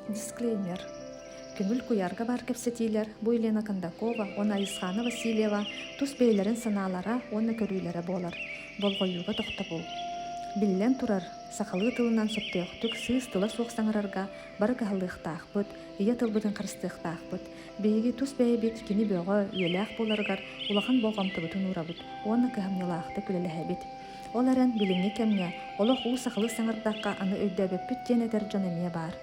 Дисклеймер Көҥүл куйаарга баар кэпсэтиилэр бу Елена Кондакова уонна Айысхаана Васильева тус бэйэлэрин санаалара уонна көрүүлэрэ буолар. Болҕойууга тохтобул. Биллэн турар, сахалыы тылынан сөптөөхтүк сыыс тыла суох саҥарарга бары кыһаллыахтаахпыт, ийэ тылбытын харыстыахтаахпыт. Биһиги тус бэйэбит кини бөҕө, үйэлээх буоларыгар улахан болҕомтобутун уурабыт уонна кыһамньылаахтык үлэлэһэбит. Ол эрэн, билиҥҥи кэмҥэ олох уу сахалыы саҥардахха аны өйдөөбөппүт диэн этэр дьон эмиэ баар.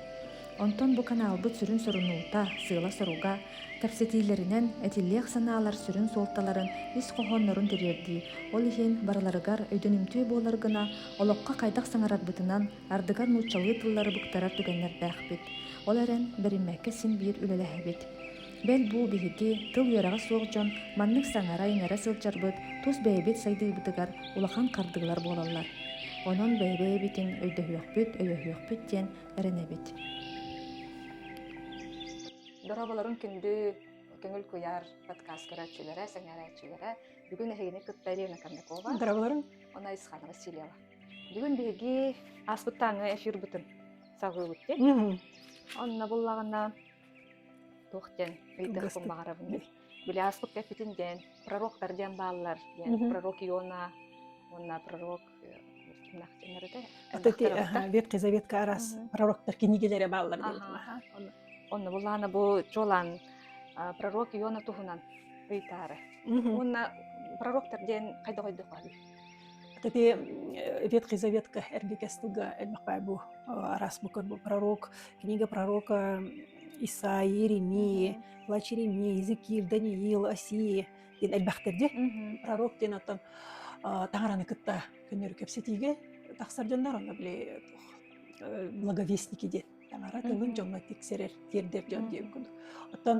Онтон бу каналбыт сүрүн сорунуута, сыала-соруга, кэпсэтиилэринэн этиллиэх санаалар сүрүн суолталарын ис хоһооннорун тириэрдии, ол иһин барыларыгар өйдөнүмтүө буолар гына олоххо хайдах саҥарарбытынан Ардыгар нууччалыы тыллары быктарар түгэннэрдээхпит. Ол эрэн, бэриммэккэ син биир үлэлэһэбит. Бэл бу биһиги, тыл үөрэҕэ суох дьон, маннык саҥара-иҥэрэ сылдьарбыт тус бэйэбит сайдыыбытыгар улахан хардыылар буолаллар. Онон бэйэ-бэйэбитин өйдөһүөхпүт, өйөһүөхпүт диэн эрэнэбит. Дорооболоруҥ күндү Көҥүл куйаар подкаст көрөөччүлэрэ, сэҥээрээччилэрэ. Бүгүн эһигини кытта Елена Кондакова. Дорооболоруҥ. Она Исханова Силева. Бүгүн биһиги ааспыттааҥҥа эфирбытын саҕыыбыт диэн. Онно буллаҕына туох диэн ыйдахпын баҕарабын. Били ааспыкка эппитин диэн пророктар диэн бааллар. Диэн пророк Иона уонна пророк Ветхий Заветка арас пророктар книгелери бааллар Онно буллаана бу чолан пророк Иона туһунан ыйтаары. Уонна пророктар диэн хайда қойдық Ити Ветхий Завет эргикэс тылга элбэхпэ бу араас букер бу пророк, книга пророка Исаи, Иеремии, Плач Иеремии, Езекииль, Даниил, Осии диэн элбэхтэрди пророк диэн оттон таҥараны кытта көннөрү кэпсэтиигэ тахсар дьоннор онно били благовестники диэн таҥара тылын дьоҥҥо тиксэрэр тиэрдэр дьон диэн курдук. Оттон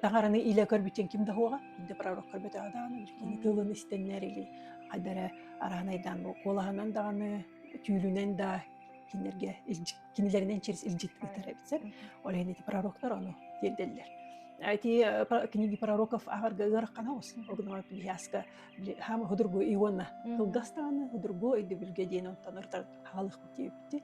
таҥараны илэ көрбүтүн ким да уһуоҕа, да пророк көрбөтөҕө даҕаны кини тылын истэннэр или хайда эрэ араанайдаан бу куолаһынан даҕаны түүлүнэн да кинилэргэ кинилэринэн через илдьит ыытар эбит сэр. Ол иһин ити пророктар ону тиэрдэллэр. Эти книги пророков аагарга ыараххана ус. Огнова пиһиаска хам худургу ионна кылгастааны худургу өйдөбүлгэ диэн онтон ыртар хаалых битти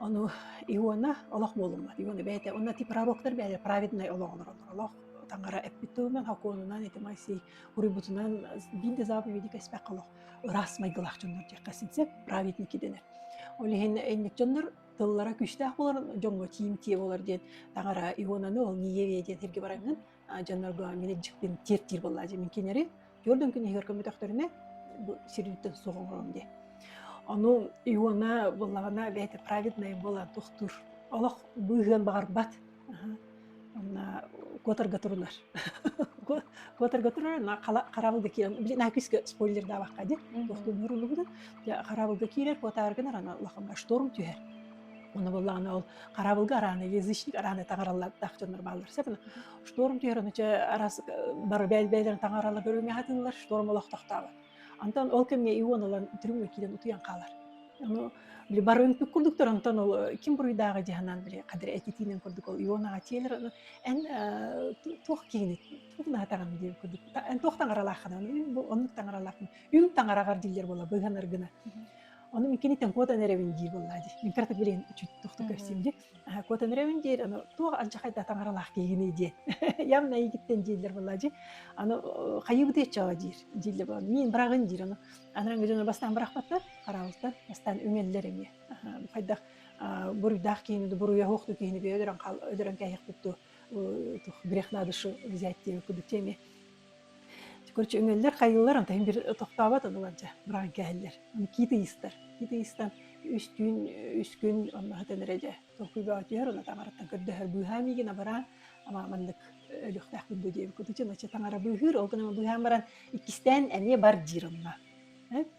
Ону Иона олох буолуммат. Иона бэйэтэ уонна ити пророктар бэйэлэрэ праведнай олох олороллор. Олох таҥара эппит тылынан, сокуонунан ити Моисей уруйбутунан биир да заповеди кэспэккэ олох ыраас майгылаах дьоннор диэххэ син сөп праведники дэнэр. Ол иһин инник дьоннор тыллара күүстээх буолар, дьоҥҥо тиимтиэ буолар диэн таҥара Ионаны ол ниеве диэн сиргэ бараҥҥын дьоннорго мин итдьикпин тиэртиир буолла дьэ мин кинилэри Твердым күн иһигэр көмөтөхтөрүнэ сирдиттэн суох оҥором дии. Ону Иона буллаҕына бэйэтэ праведная буолан тохтуур. Олох быыһыан баҕарбат. Онна куотарга турунар. Куотарга турар, на хараабылга киирэн, били на күскө спойлер даабаққа ди, тохтуун нурулугудун, хараабылга киирэр, куотааргынар ана улаханга шторм түһэр. Оны буллаҕына ол хараабылга арааны язычник арааны таҥараллар дах дьоннор бааллар сеп Шторму түһэрэн өчө араас бары бээл-бэйэлэрин таҥаралар бөрүмэ хатыылар шторм олохтохтообот. Антон ол кэмҥэ Ион ылан түрүҥҥэ киирэн утуйан хаалар. Ону били бары үнпүк курдуктар, онтон ол ким буруйдааҕы дьаһанан били кадыр этитиинэн курдук ол Ионаҕа тиэлэр аны эн туох киһини туох наатаҕын диэн курдук эн туох таҥаралааххын бу оннук таҥаралаахпын үҥ таҥараҕар диллэр буола быыһанар гына. Ону мин киниттэн куотан эрэбин дии буоллаа дии. Мин кыратык билин үчүт тохту көрсүм дии. Котонревин диир аны туох анчахай да таҥаралаах киһигиний диэн явно эйигиттэн дииллэр буолла дии аны хайыбыт иччоҕо диир дииллэ буолан мин быраҕын диир аны анараңы дьоно бастаан бырахпаттар хараалтан бастаан үҥэллэр эмиэ хайдах буруйдаах киһини буруйаһуох du киһини өдөрөн кээһиэхпит ту тух грех надо шу взять кудут Короче, үҥэллэр, хайыылар, антон бир тохтообот ылылар дьэ, быраан кээһэллэр. Киит ыйыстар. Киит ыйыстан үстүүн, үскүн онно хытанара дьэ. Толкуйбаҕа түһэр, онно таҥараттан көрдөһөр. Быыһаан миигин абараан, амааманнык өлүөхтээхпин дуу диэбит. Кутучу начча таҥара быыһыыр, ол гынан быыһаан баран, иккистээн эмиэ бар диир онно.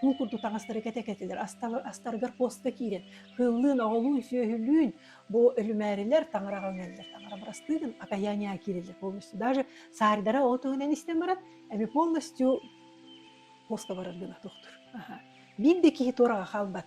куу курдук таҥастары кэтэ-кэтилэр астаргар постка киирэн кыыллыын оҕолуун сүөһүлүүн бу үрүмээрилэр таҥараҕа үҥэллэр таҥара бырастыгын окаяния киирэллэр полностью даже саардара ол туһунан истэн баран эми полностью постко барар гына тохтур биир да киһи туораҕа хаалбат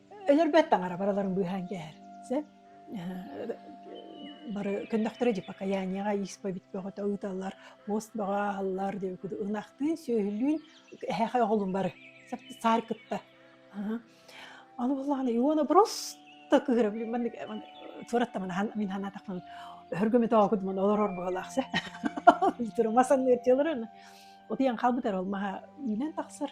өлөрбөт таҥара барыларын быыһаан кээһэр сөп бары көннөхтөрө дипокаяниеҕа исповедь бөҕөтө ыыталлар мост бөҕө аһаллар диэбиккэ ынахтыын сүөһүлүүн эһэхэ оҕолун бары саар кытта аны буоллаҕына иона просто кыыра блин маннык суораттамын мин ханаатахпын өргөмө тоогуд мон олорор буолаах се мас санныырчылары отыйан халбытар ол маха үүнэн тахсар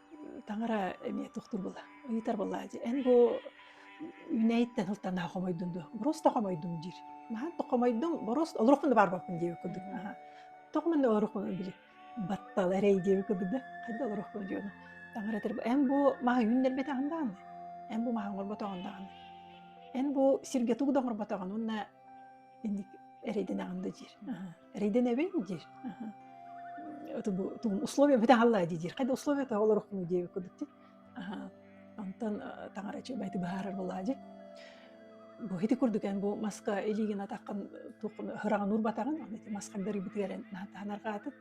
Таҥара эмиэ тохтуур була ыытар буоллаа дии. Эн бу Үүнээйиттэн сылтанаа хомойдун дуо? Бороос да хомойдум диир. Наһаа да хомойдум, бороос олоруохпун да баар буолбун диэбит курдук. Аһа. Тоҕо манна олоруохпун били баттал эрэй диэбит курдук да хайда олоруохпун диэно. Таҥара этэр эн бу маһы үүннэрбэтэ аһын даҕаны. Эн бу маһы оҥорботоҕун даҕаны. Эн бу сиргэ тугу да оҥорботоҕун уонна инник эрэйдэнэҕин да диир. Аһа. рейденэбин диир тугум условия бөтө хаалла дии диир хайда условия то олорохну дии кудук ти онтон таҥара чүмэти быһаарар болаа дьи бу хити курдукен бу маска илигин атаккын туқын хыраҕын урбатаҕын аны маска дарыбытыгарын таанаргаатыт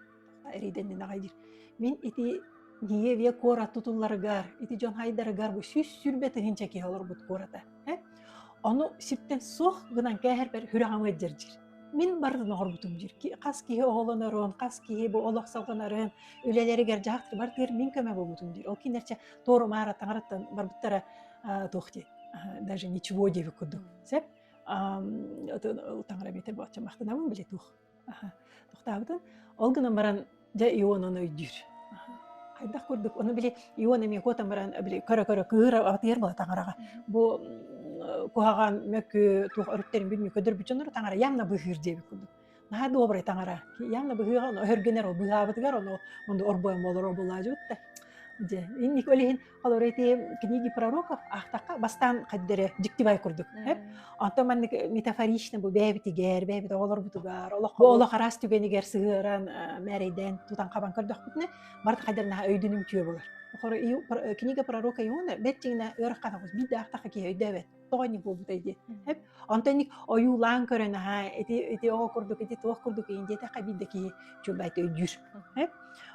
рейденнин агай диир мин ити ние ве куорат тутулларыгар ити дьон хайдарыгар бу сүүс сүрбе тыһынча киһи олорбут куората Ону сиртэн суох гынан кээһэрбэр хүрэҕим ыддьыр диир. Мин барытын оҥорбутум диир. Ки хас киһи оҕолонорун, хас киһи бу олох салҕанарын, үлэлэригэр, дьаһахтарыгар тыгар мин көмө буолбутум диир. Ол кинилэрчэ туорумаара таҥараттан барбыттара аа туох диэй, аа даже ничего диэбит курдук. Сөп? Аам, атын ол таҥара эбэтэр бачча махтанабын били туох тохтообутун ол гынан баран дьэ Ионаны өйдүүр хайдах курдук ону били Ион эмиэ куотан баран били көрө-көрө кыыр атыйар була таҥараҕа бу куһаҕан мөкү туох өрүттэрин билмей көрдөрбүт дьоннору таҥара явно быһыыр диэбит курдук наһаа добрый таҥара явно быһыыга оно өһөргөнөр ол быһаабытыгар ону онду орбойон болоро булаажыбыт да дьэ инник ол иһин Олору ити книги пророков аахтахха бастаан хаддары диктивай курдук эп. Онтон маннык метафорично бу бэйэбитигэр, бэйэбит оҕолорбутугар, олох олох араас түгэнигэр сыһыаран мэрийдээн тутан хабан көрдөхпүтүнэ барыта хайдах өйдөнүм түйө болар. Хор книга пророка иона бэттиҥнэ өрөх хатагус бит да ахтаха киһи өйдөөбөт. тоҕо инник буолбутай диэн эп онтон инник ойуулаан көрөн аhaa ити ити оҕо курдук ити туох курдук иин диэтэххэ биирдэ киһи чуолбайта өйдүүр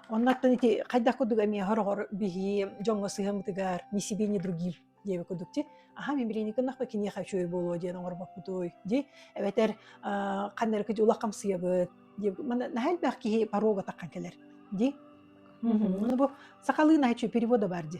оннуттан ити хайдах курдук эмиэ хороҕор биһи дьоҥҥо сыһаммытыгар ни себе ни другим диэби курдук ти аха мин билиини кыннахпы киниэхэ үчүгэй буолуо диэн оҥорбоппутуй ди эбэтэр ханна эрэ улах хамсыйабыт диэбит мана наһаа элбэх киһи порога таххан кэлэр ди ну бу сахалыы наачу перевода бар ди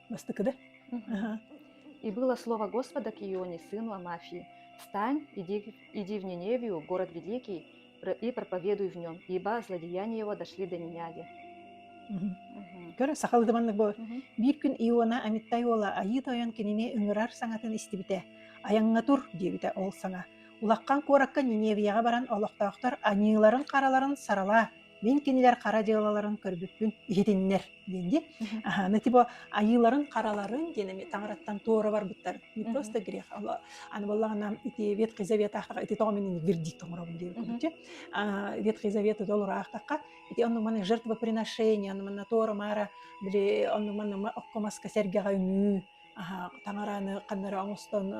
Бастыкы да? И было слово Господа к Ионе, сыну Амафии, «Встань, иди, иди в Ниневию, город великий, и проповедуй в нем, ибо злодеяния его дошли до Ниняги». Көр сахалы дыманнык боор. Биир күн Иона Амиттай уола Айыы тойон кинини үҥүрар саҥатын истибитэ. Айаҥҥа тур диэбитэ ол саҥа. Улахан куоракка Ниневияҕа баран олохтоохтор аньыыларын-хараларын саралаа мин кинилэр хара дьыалаларын көрбүппүн иһитиннэр диэн диэн аны ити бу айыыларын хараларын диэн эми таҥараттан туора барбыттар мы просто грех аны боллагана ити ветхий завет аахтаха ити тоҕо мин вердикт оҥоробун диир курдучу ветхий завет ол ураахтахха ити онну маны жертвоприношение онну манна туора маара били онну манна оккомаска сэргэҕэ үнүү таҥараны ханнары оҥостон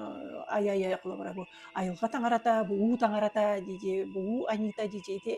ай ай ай холобура бу айылҕа таҥарата бу уу таҥарата дии бу уу анита дии ити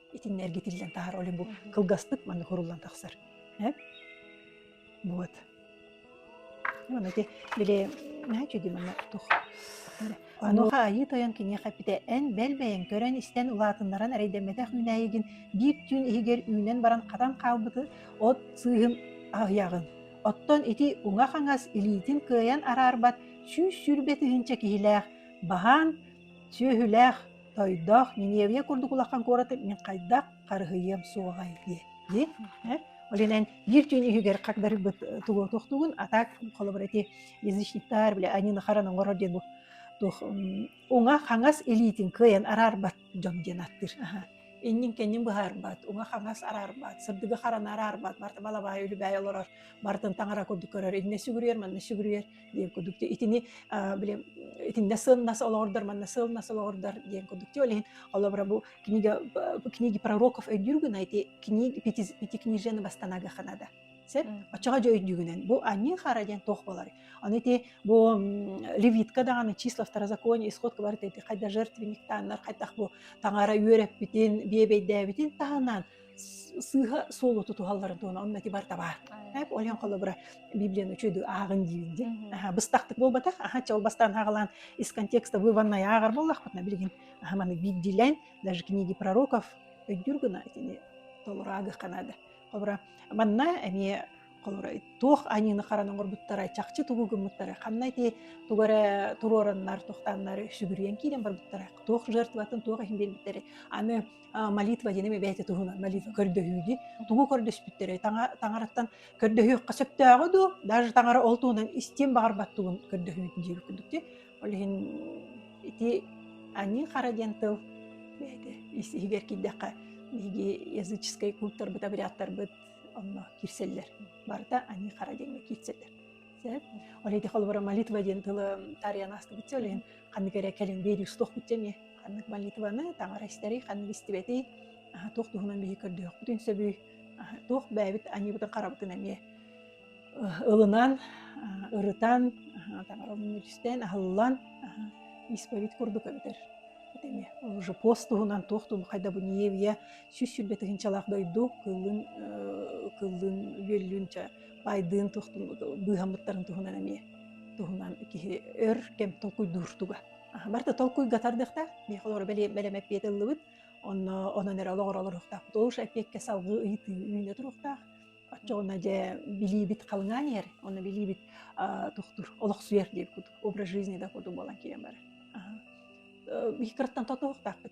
итиннэ эргитиллэн таһар олим бу кылгастык маннык хоруллан тахсар э вот манна ити били наачи ди манна тух онуха айыы тойон киниэхэ пите эн бэлбэйэн көрөн истэн улаатыннаран эрэйдэммэтэх мүнээйигин биир түүн иһигэр үүнэн баран хатан хаалбыты от сыыһым аһыйаҕын оттон ити уҥа хаҥас илиитин кыайан араарбат сүүс сүрбэ тыһыынча киһилээх баһаан сүөһүлээх Тойдох, Ниневия курдук улахан куораты мин хайдах харыһыйыам суоҕай диэн. Диэн, э? Ол иһинэн биир түүн иһигэр хагдарыгбыт тугу туохтуугун, а так холобура эти язычниктар били аньыны харан оҥорор диэн бу туох уҥа хаҥас илиитин кыайан араарбат дьон диэн аттыр. Аха. Иннин кэннин быһаарбат, уҥа хаҥас араарбат, сырдыгы харан араарбат, барта балабаай үлүбэйэ олорор, бартын таҥара курдук көрөр, иннэ сүгүрүйэр, манна сүгүрүйэр. диэн курдук итини били итиннэ сыылнас олоҕурдар манна сыылнас олоҕурдар диэн курдук ол иһин олобра бу книга книги пророков өйдүүр гына ити книги пятикнижиены восстанага ханада сеп оччоҕо дьэ өйдүүгүнэн бу анныы хара диэн туох болар аны ити бу левитка даҕаны числа второ законе исход кыбар эти хайда жертвенниктаннар хайдах бу таҥара үөрэппитин биэбэйдээбитин таһынан сыыһа суолу тутуһалларын туһунан онно ити барыта баар. Эп ойон холобура Библияны үчүгэй ааҕын диир дии. Аха быстахтык буолбатах. Аха чол бастан ааҕылаан из контекста выводная ааҕар боллахпытына билигин аха маны биирдилэн даже книги пророков өйдүүр гына итини толураагыхха наада. Холобура манна эмиэ холобура туох аньыыны харан оҥорбуттара чахчы тугу гыммыттара ханна ити тугу эрэ туруораннар тохтааннар сүгүрүйэн киирэн барбыттара туох жертватын туох иһин биэрбиттэрэ аны молитва диэни бэйэтэ туһунан молитва көрдөһүүнү тугу көрдөспүттэрэ таҥараттан көрдөһүөххэ сөптөөҕү дуу даже таҥара ол туһунан истиэн баҕарбат тугун көрдөһүүнү диир курдук ди ол иһин ити аньыы хара диэн тыл бэйэтэ ис иһигэр киирдэххэ биһиги языческай култтарбыт обрядтарбыт онно кирсэллэр барыта аньыы хара диэҥҥэ киирсэллэр Олеге холбора молитва диэн тылы таарыйан астыбытча олен ханнык эрэ кэлин биэриус туох бүтчэ ме ханнык молитваны таҥара истэри ханнык истибэти туох туһунан биһи көрдөөх бүтүн сөбүй туох бэбит аньыбытын харабытын эмиэ ылынан ырытан таҥарабын үлүстэн аһыллан исповедь курдук эбитер эме уже пост туһунан туох тун хайда бу ниевия сүүс сүрбе тыһынчалаах дойду кылын кылын үөллүнча айдыын быыһаммыттарын туһунан эмиэ туһунан киһи өр кэм толкуйдуур туга барда толкуйга тардыахта миэхэ олору бэлэмэппиэт ыллыбыт онно онон эрэ олоҕор олоруохтаахпыт ол эппиэккэ салгыы ыйытыы үүнэ туруохтаах оччоҕуна дьэ билиибит халыҥаан иһэр онно билиибит тохтур олохсуйар диир кутук образ жизни да курдук буолан киирэн барар икки кыраттан тотуохтаахпыт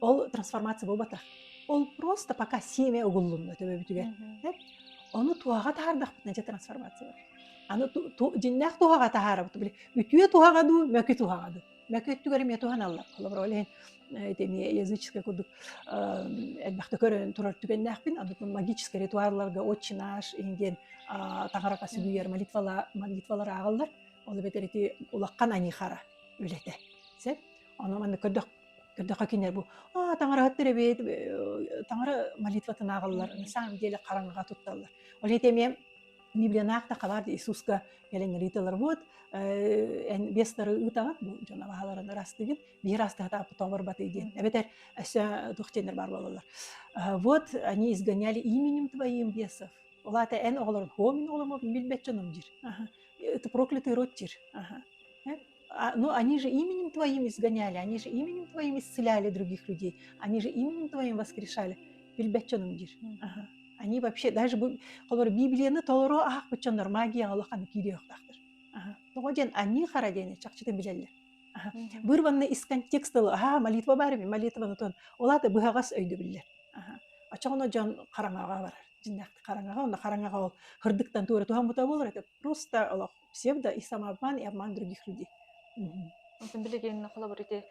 Ол трансформация буолбатах. Ол просто пока семя угуллунна төбөбүтүгэр. Ону туһаҕа таһаардахпытына дьэ трансформация бар. Аны дьиннээх туһаҕа таһаарабыт били үтүө туһаҕа дуу, мөкү туһаҕа дуу. Мөкү өттүгэр эмиэ туһаналлар. Холобура ол иһин ити эмиэ языческай курдук элбэхтэ көрөн турар түгэннээхпин. Аны магическай ритуалларга отче наш иһин таҥарака сүгүйэр молитвалар ааҕыллар. Ол эбэтэр ити улахан анихара үлэтэ. Сен? Ону маннык көрдөх Ырдакка кинилэр бу аа таҥараһыттар эбээт таҥара молитватын ааҕаллар на самом деле хараҥаҕа тутталлар. Ол иһин эмиэ Библиянаах да хабаар Иисуска кэлэн ыйыталар вот эн бестары ыытаҕыт бу дьон абаһаларын ырастыгын биир астаһата тоборбаты диэн эбэтэр өссө туох диэннэр баар буолаллар вот они изгоняли именем твоим бесов улаата эн оҕолорун хомин оҕоломо билбэт дьонум дир ты проклятый род дир А, ну, они же именем твоим изгоняли, они же именем твоим исцеляли других людей, они же именем твоим воскрешали. Билбэт дьонум диир. Аха. Они вообще даже бу холор Библияны толору аахпыччоннор магия олоханы киириохтахтар. Аха. Тоҕо диэн они хара диэни чахчыта билэллэр. Аха. Бырванна из контекста аха молитва бар эми молитваны тон олата быһаҕас өйдөбүллэр. Аха. Очоҕуна дьон хараҥаҕа барар. Дьиннэхти хараҥаҕа онно хараҥаҕа ол хырдыктан туора туһаммыта болар это просто олох псевдо, и самообман, и обман других людей. Онтон билигин холобур ити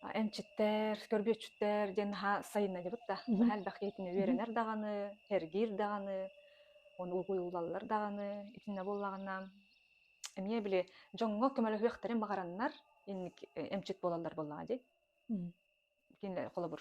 эмчиттэр, көрбүөччүттэр диэн наһаа сайынна дебут да. Наһаа элбэх киһитин үөрэнэр даҕаны, эргиир даҕаны, оны угуйуулаллар даҕаны, итиннэ буллаҕына, эмиэ били дьоҥҥо көмөлөһүөхтэрин баҕараннар, инник эмчит буолаллар буоллаҕа дии. Кинилэр холобур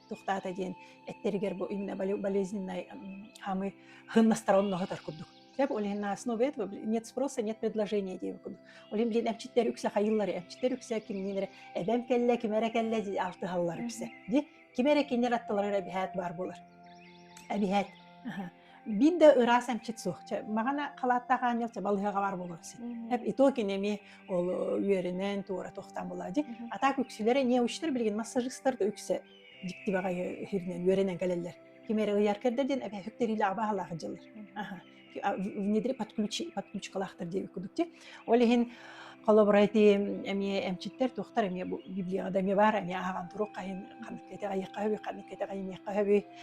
тухтаата диэн эттэригэр бу именно болезненной хамы хыннасторонноһытар курдук Тяп олин на основе этого нет спроса, нет предложения диэн курдук. Олин блин эмчиттер үксэ хайыллары, эмчиттер үксэ кимнилere эбэм кэллэ, ким эрэ кэллэ ди алтыһаллар үксэ. Ди ким эрэ киннер аттылар эбиһээт бар болар. Эбиһээт. Биир да ыраас эмчит суох. Маҕана халааттаах аанньал балыһаҕа баар буолар син. Эп иту кини эми ол үөрүнэн туора тохтаан була ди. А так үксүлэрэ не учтар билигин массажистар да үксэ дьиктибэҕэ иһиринэн үөрэнэн кэлэллэр. Ким эрэ ыйар кэрдэ диэн эбэ хүктэриилэ абаһалаах дьыллар. Аха. Внедрі подключкалаахтар диэбит кудук ти. Ол иһин холобурайти эмиэ эмчиттэр туохтар эмиэ бу библияда эмиэ баар эмиэ ааҕан турук хайын ханнык кэти айыққа хабы ханнык кэти айыныққа хабы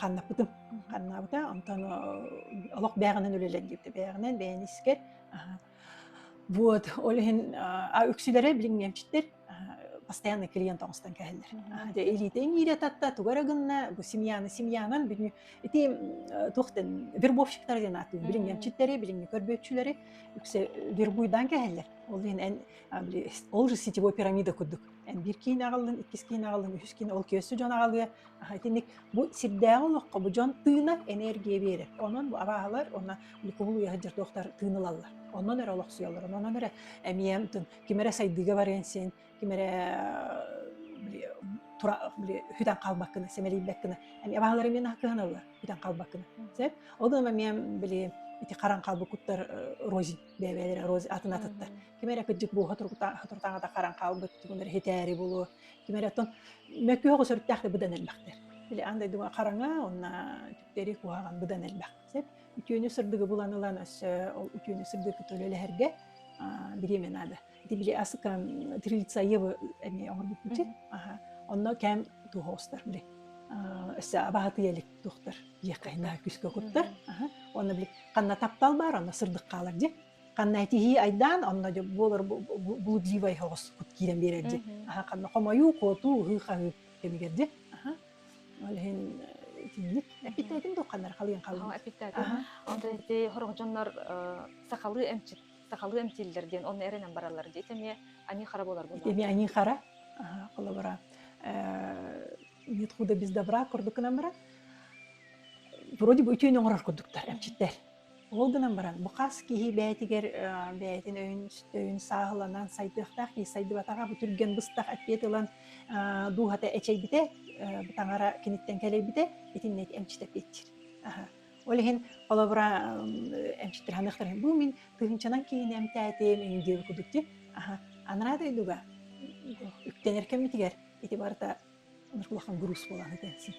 ханнаппытым ханнаабыта онтон олох бэҕэнэн үлэлэр диэбитэ бэҕэнэн бэйэн искэр вот ол иһин үксүлэрэ билиҥҥэмчиттэр постоянно клиент оҥостон кэһэллэр дэ илиите иҥиире татта туга эрэ гынна бу семьяны семьянан бүнү ити туохтан вербовщиктар диэн ааттыыр билиҥҥэмчиттэри билиҥҥи көрбүөччүлэри үксэ вербуйдаан кэһэллэр ол иһин ол же сетевой пирамида курдук Биир киин аҕаллын, иккис киин аҕаллын, үһүс киин ол күөстүү дьон аҕалыа. Итинник бу сирдээҕи олоххо бу дьон тыынар, энергия биэрэр. Онон бу абааһылар уонна глюкоза уйаһа дьирдуохтар тыын ылаллар. Онон эрэ олохсуйаллар. Онон эрэ эмиэ ким эрэ сайдыыга барыан син, ким эрэ хүтэн хаалбаккына, сэмэлийбэккинэ эмиэ абааһылар эмиэ кыһаналлар, хүтэн хаалбаккына. Сөп? Ол гынан эмиэ ити харан хаалбыт куттар розень бэйэбэлэр роз атын атыттар ким эрэ кыдьык бууха турутааҕыта харан хаалбыт тумун эрэ хитээри булуо ким эрэ оттон мөккү оҕо сөрүттээх быдан элбэхтэр били ан дойдуга хараҥа онна түктэри куһаҕан быдан элбэх сеп үтүөнү сырдыгы булан ылан өссө ол үтүөнү сырдыгы төлөлөһөргө бириэмэ наада дибили асыкан трилица евы эми оҥорбуппутин аха онно кэм туһоостар били өссө абаһатый элик тухтар диэххэйнаа күскө куттар онно били ханна таптал баар онно сырдык хаалар дьи ханна этихии айдаан онно буолар блудливай хоҕос кут киирэн биэрэр дьи аха ханна хомойуу куотуу ыһыы хаһыы кэмигэр дьи аха ол иһин итинник эпитетин духханнар халыйан халыйан эпитет онто ити хорох дьоннор сахалыы эмчит сахалыы эмтииллэр диэн онно эрэнэн бараллар диэт эмиэ аньыы-хара буолар буолла. Эмиэ аньыы-хара холобура нет худа без добра курдук гынан баран вроде бы үтүөнү оҥорор курдуктар эмчиттэр ол гынан баран бу хас киһи бэйэтигэр бэйэтин өйүн өйүн сааһыланан сайдыахтаах киһи сайдыбатаҕа бу түргэн быстах эппиэт ылан дууһата эчэйбитэ бытаҥара киниттэн кэлэйбитэ итиннэ эмчит эппиэтчир Ол иһин холобура эмчиттэһэмэхтэрин бу мин тыһынчанан киһини эмтээтим, иҥдиэм кудук ти аха анараа дойдуга үктэнэр кэммитигэр ити барыта улахан груз буолан этээсин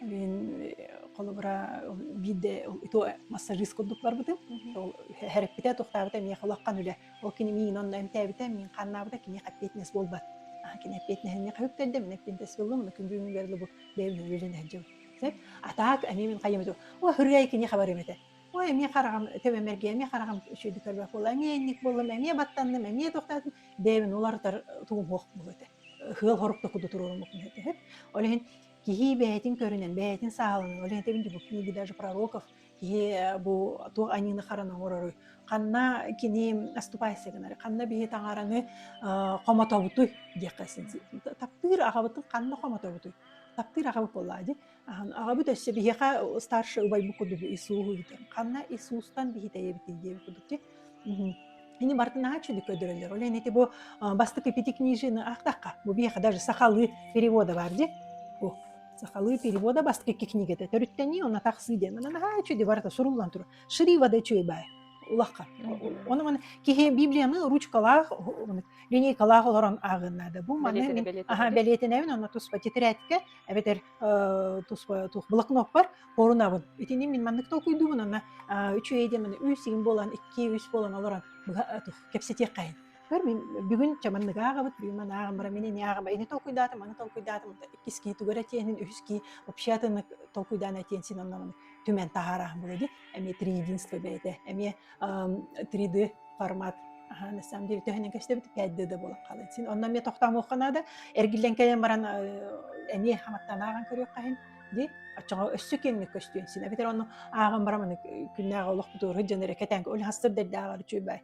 Мен холобура биирде иту массажист курдукларбытым ол хереппите тохтаабыта эмиэ холаққан үлэ ол кини миин онно эмтээбите мин ханнаабыта кини эппиэтинэс буолбат кини эппиэтинэсине қаһыктэрдем эппиэтинэс буоллум күндү күнгерлы бу бэйбин үлэлен атаак эмиэ мин хайыым этэ ой хырыай кини хабарым этэ ой эмиэ хараҕым төбөм эргэ эмиэ хараҕым үчүгэйдик көрбөх буолла эмиэ инник буоллум эмиэ баттанным эмиэ тохтоотум бэйэбин уларытар тумуһуох буолуо этэ хыал хорук да куду туруоруммут этэ ол иһин киһи бэйэтин көрүнэн бэйэтин саалынан ол иһин тэбинди бу книги даже пророков киһи э, бу туох аньыыны хараны оҥорору ханна кини аступайся гынары ханна биһи таҥараны э, хомотобутуй диэххэ таптыыр аҕабытын ханна хомотобутуй Таптыыр аҕабыт буоллаҕа дии. Аһан аҕабыт өссө биһиэхэ старший убайбыт курдук ис ууһу бүтэн ханна ис уустан биһитэйэбитий диэбит курдук дии. Мм. Ини барыта наһаа үчүгэй көрдөрөллөр. Ол иһин ити бу а, бастакы пяти книжины ахтахха, бу биһиэхэ даже сахалыы перевода бар дии. Бу сахалыы перевода бастакы книгата төрүттэнии, онно тахсыы диэн. Аны наһаа үчүгэй барыта суруллан турар. шри воды чуйбай улахан оның киһи библияны ручкалаах линейкалаах олорон ааҕыннаада бу маны аха бэлиэтинэбин онно туспа тетрадька эбэтэр туспа тух блокноппар порунабын итини мин маннык толкуйдуубун онно үчүгэй деманы үйсигин болан икки үс болан олорон кэпсэтиэххайын көр мен бүгүн чаманнык ааҕабыт бүгүн ман ааҕам бара мин ини ааҕам ини толкуйдаатым аны толкуйдаатым иккискии тугара тиэнин үһүскии вообще атыннык толкуйдаан этиэн син онномун түмэн таһаара былыди эми 3-единство бэйэтэ эми 3D формат аха на самом деле төһөнөн көстөбүт 5D да болон халын син онно мне токтамыхха наада эргиллэн кэлэн баран эни хаматтанааҕан көрүөх хаһын ди оччоҕо өссө киэҥник көстүөн син эбитэр онну ааҕан бараманы күннээҕи олох бутууру дьон эрэ кэтэнгэ өл хастыр дэрдээҕэр үчүй бай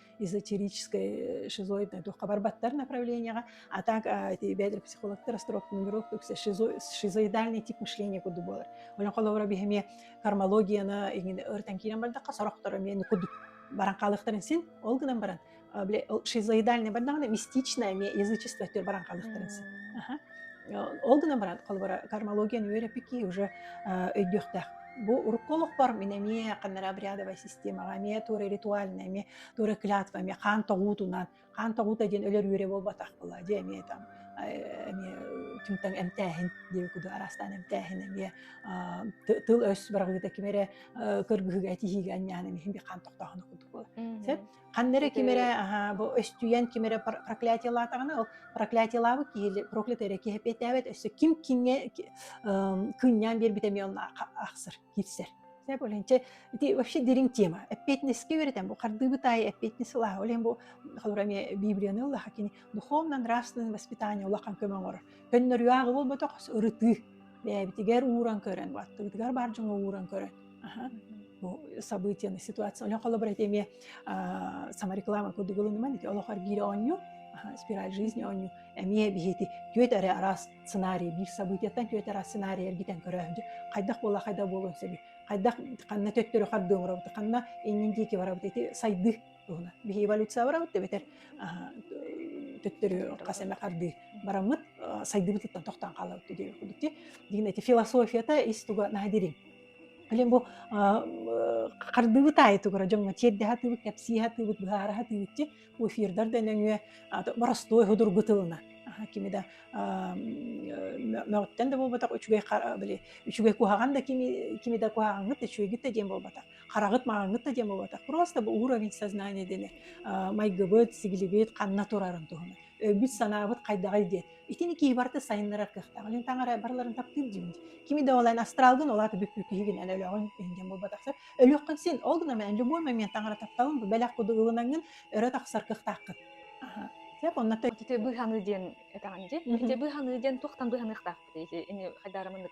эзотерической шизоидной духка барбаттар направлениеҕа а так бэдр психологтар астроптунировка шизоидальный тип мышления курдук буолар онон холобура биһи эмиэ кармологияны иҥин ыртан киирэн бардахха сорохторо эмиэ курдук баран хаалыахтарын син ол гынан баран шизоидальный бардаҕына мистичное эмиэ язычество өттүгэр баран хаалыахтарын син ол гынан баран холобура кармологияны үөрэппикки уже өйдүөхтээх Бу урукку олохпор мин эмиэ ханна обрядовая системаҕа, эмиэ туора ритуальнай, эмиэ туора клятва, эмиэ хаан тоҕуутунан, хаан тоҕуута диэн өлөр үөрэ буолбатах была, дьэ эмиэ там эмиэ түмтэн эмтээһин диэки куду араастаан эмтээһин эмиэ тыл-өс быраҕыыта ким эрэ кыргыһыыга этиһиигэ анньаан эмиэ хаан тохтооһуна курдук буолар. Сөп? Ханна эрэ ким эрэ аһаа бу өстүйэн ким эрэ проклятие лаатаҕына ол проклятиелаабыт киһи проклятый эрэ киһи эппиэттээбэт өссө ким кингэ кынньаан биэрбитэ эмиэ онно ахсар киирсэр. Сэ болинче ити вообще дириҥ тема. Эппиэтинэскэ үөрэтэн бу хардыыбыт аайы эппиэтинэс ылаха олен бу холура эмиэ библияны ылаха кини духовно нравственное воспитание улахан көмө оҥорор. Көннөрү ааҕы болботох ырытыы бэйэбитигэр ууран көрөн баттыбытыгар бар дьоҥҥо ууран көрөн бу событияны ситуация олох холобур этиме сама реклама кудугулунуман ити олохор биири оонньу спираль жизни оонньу эмиэ биһити түөт эрэ араас сценарий биир событияттан түөт араас сценарий эргитен көрөөһүдү хайдах буола хайдах буолуон сөбү хайдах ханна төттөрү хардыы оҥоробут ханна иннин диэки барабыт ити сайды туһуна биһи эволюция барабыт тэбэтер төттөрү хас эме хардыы бараммыт сайдыбытыттан тохтон хаалабыт диир кудути дигин эти философията ис туга наадирин Блин, бу а, хардыбыт аайы тугура дьоҥҥо тиэрдэ сатыыбыт, кэпсии сатыыбыт, быһаара сатыыбытчи, эфирдар да нөҥүө боростуой судургу тылына. Кими да мөҕүттэн да буолбатах үчүгэй били үчүгэй куһаҕан да кими кими да куһаҕаҥҥыт да үчүгэйгит да диэн буолбатах хараҕыт маҕаҥҥыт да диэн буолбатах просто бу уровень сознания дэнэр майгыбыт сигилибит ханна турарын туһунан өйбүт санаабыт хайдаҕый диэн Итини киһи барыта сайыннарар кыахтаах. Лин таҥара барыларын таптыыр дьиҥин дьэ. Кими да ол эн астралгын, ол аата бүккү киһигин эн өлөҕүн иһин диэн буолбатахсар. Өлүөххүн син. Ол гына мэ любой момент таҥара тапталын бу бэлэх курдук ылынаҥҥын өрө тахсар кыахтааххын. Аһа. Сөп, оннук Ити быыһаныы диэн этэҕин дии. Мгм. Ити быыһаныы диэн туохтан быыһаныахтаахпытый ити ини хайдаарымыннык?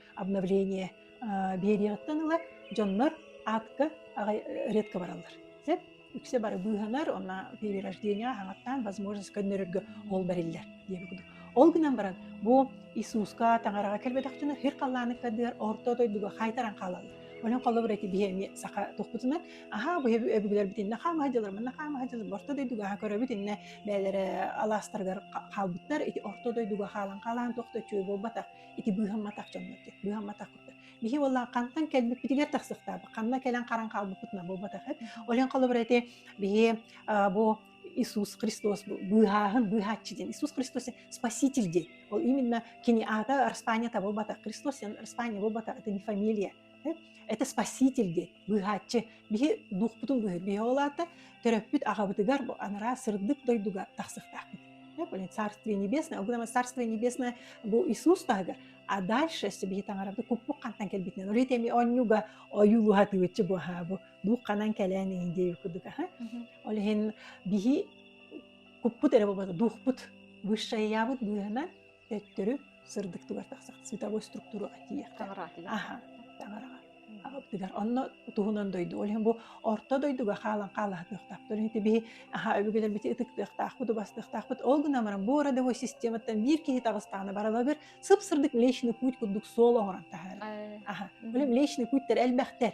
обновление биэриэҕиттэн ыла дьоннор аатка редко бараллар сөп үксэ бары быыһанар онно период рождения хаҥаттаан возможность көннөрөргө ол бэриллэр диэбит курдук ол гынан баран бу иисуска таҥараҕа кэлбэтэхтэринэ хир халлааны көрдүгэр орто дойдуга хаайтаран хаалаллар Онон холобур эти биһи эмиэ саха тухпутунан аhaa бу өбүгэлэрбит инна хаама садьалар манна хаама садьалар орто дойдуга аха көрөбүт инна бээлэрэ алаастарыгар хаалбыттар ити орто дойдуга хаалан хаалаан тохто чүй буолбатах ити быыһамматах дьоннор диэн быыһамматах биһи уоллаах хантан кэлбиппитигэр тахсыктаабыт ханна кэлэн харан хаалбыппытына буолбатах эт олен холобура ити биһи бу Иисус Христос быыһааһын быыһааччы диэн Иисус Христос спаситель диэн ол именно кини аата распаниета буолбатах Христос распания буолбатах это не фамилия Это спаситель диэн быыһааччы биһи дуухпутун быыһын биһи оҕолаата төрөппүт аҕабытыгар бу анараа сырдык дойдуга тахсыахтаахпыт блин царствие небесное огромное царствие небесное бу Иисус таһыгар а дальше биһи таҥарабыты куппук хантан кэлбитинэн ол эми онньуга ойуулуһатыгыччы буохаабу дух ханан кэлэн индею кудук аха ол иһин биһи куппут эрэ буолбата дуухпут высшая быыһынан Өттөрү сырдыктыгар тахсах световой структураҕа тиийэххэ. Аха, таҥараҕа. Аҕабытыгар онно туһунан дойду ол иһин бу орто дойдуга хаалан хаалаһытыахтаахтар ити биһи аха өбүгэлэрбити ытыктыахтаахпыт убастыахтаахпыт ол гынан баран бу родовой систематтан биир киһи таҕыстаҕына баралагыр сып сырдык млечный путь курдук суол оҥорон таһаарар аха ол млечный путтар элбэхтэр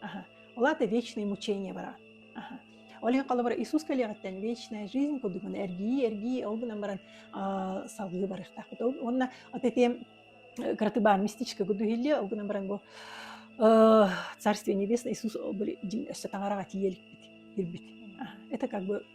Ага. Олата вечные мучения бара. Ага. Олен холобура Иисус кэлиэҕиттэн вечная жизнь кудугун эргии эргии ол гынан баран салгыы барыахтаахпыт. Уонна от эти кратыбаан мистичка гудухилли ол гынан баран бу Царствие Небесное Иисус ол дьиҥ өссө таҥараҕа тиийэлпит ирбит. Это как бы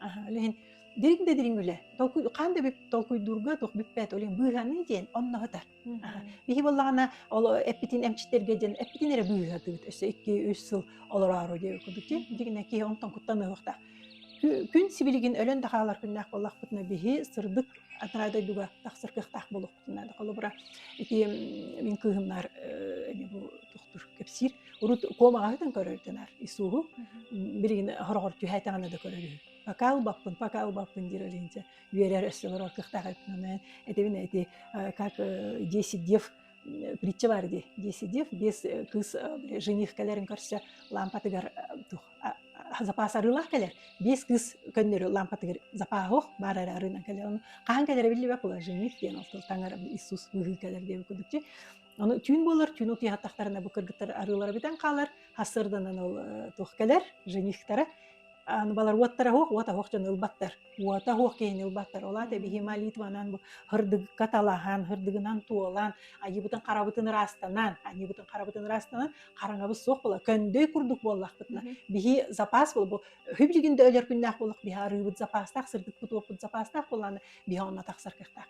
Аһа, үлэһин дириҥ да дириҥ үлэ. Толкуй хаан да толкуйдуурга туох бүппэт олен быыһаныы диэн онноһыта. Биһи боллаҕана ол эппитин эмчиттерге диэн эппитин эрэ быыһатыыт өссө 2-3 сыл олороору диэ кудучи дигине ки онтон куттаныахта. Күн сибилигин өлөн да хаалар күннээх боллахпытына биһи сырдык атыраа дойдуга тахсар кыахтаах болух. наада холобура ити мин кыыһымнар эми бу тохтур кэпсиир урут куомаҕаһытын көрөрдөнөр исууһу билигин хороҕор түһээтэҕинэ да көрөр үһү пока ылбаппын пока ылбаппын диир олинче үөрэр өссө олорор кыахтаах эппинэн этебин эти как десять дев притча бар ди десять дев без кыыс жених кэлэрин көрсө лампатыгар тух запаас арыылаах кэлэр биис кыыс көннөрү лампатыгар запааһох баар эрэ арыынан кэлэр хаһан кэлэрэ биллибэ положение диэн ол таҥара иисус быһыы кэлэр диэбит курдук чи ону түүн буолар түүн утуйаһаттахтарына бу кыргыттар арыылара бүтэн хаалар хасырданан ол туох кэлэр женихтара аны балар уоттара хуох уота хуох дьон ылбаттар уота хуох киһин ылбаттар ол аата биһи молитванан бу хырдыгка талаһан хырдыгынан туолан айыбытын харабытын ыраастанан айыбытын харабытын ыраастанан хараҥабыт суох була көндөй курдук буоллахпытына биһи запас була бу үһү билигин да өлөр күннээх буоллах биһи арыыбыт запастаах сырдыкпыт уоппут запастаах буоллаана биһи онно тахсар кыахтаах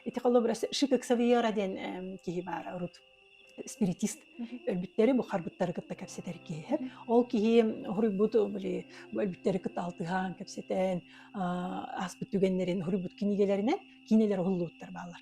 ити холобурас шикок савьера диэн киһи баар урут спиритист өлбүттэри бухарбыттары кытта кэпсэтэр киһи ол киһи хоруйбут были өлбүттэри кытта алтыһаан кэпсэтэн ааспыт түгэннэрин хоруйбут кинигэлэринэн кинилер уһуллууттар бааллар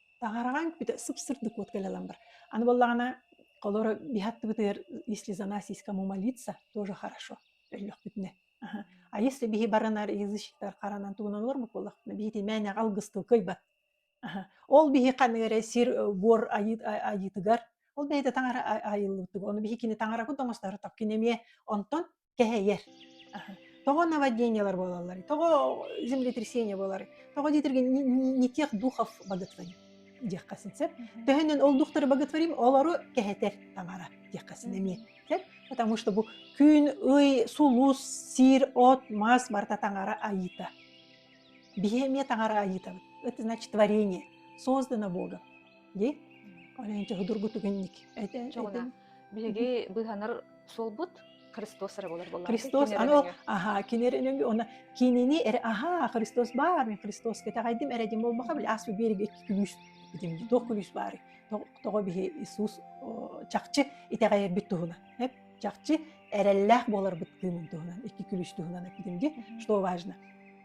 таһараҕаҥ бүтэ сып-сырдык вот кэлэлэн бар аны буоллаҕына холоро биһаттыбытыгар если за нас есть кому молиться тоже хорошо өллөхпүтүнэ а если биһи баранар язычниктар харанан тугунан олормут буоллахпына биһити мээнэҕэ алгыстыы кыйбат ол биһи ханна эрэ сир буор айыытыгар ол бэйэтэ таҥара айыллыбыт ону биһи кини таҥарабыт оҥостор токкин эмиэ онтон кэһэйэр. Тоҕо наводнениелар буолаллар, тоҕо землетрясение буолар, тоҕо диэтэргэ не тех духов боготворим диэххэсин сөп. Төһөнөн ол духтары боготворим, олору кэһэтэр таҥара диэххэсин эмиэ сөп. Потому что бу күн, ый, сулус, сир, от, мас барыта таҥара айыта. Биһи эмиэ таҥара айыытабыт. Это значит творение, создано Богом. ди Оленча худургутук инник этен биһиги быһанар суолбут Христос эрэ болар болар. Христос ано аха кинеренү она кинини эр аха Христос бар мен Христос кетагайдим эредим болмаха бил ас бирге күлүс битим тох күлүс бар того биһи Иисус чакчы итегайербит туһуна эп чакчы эреллах болар бит кыымын туһунан икки күлүс туһунан эпидемге что важно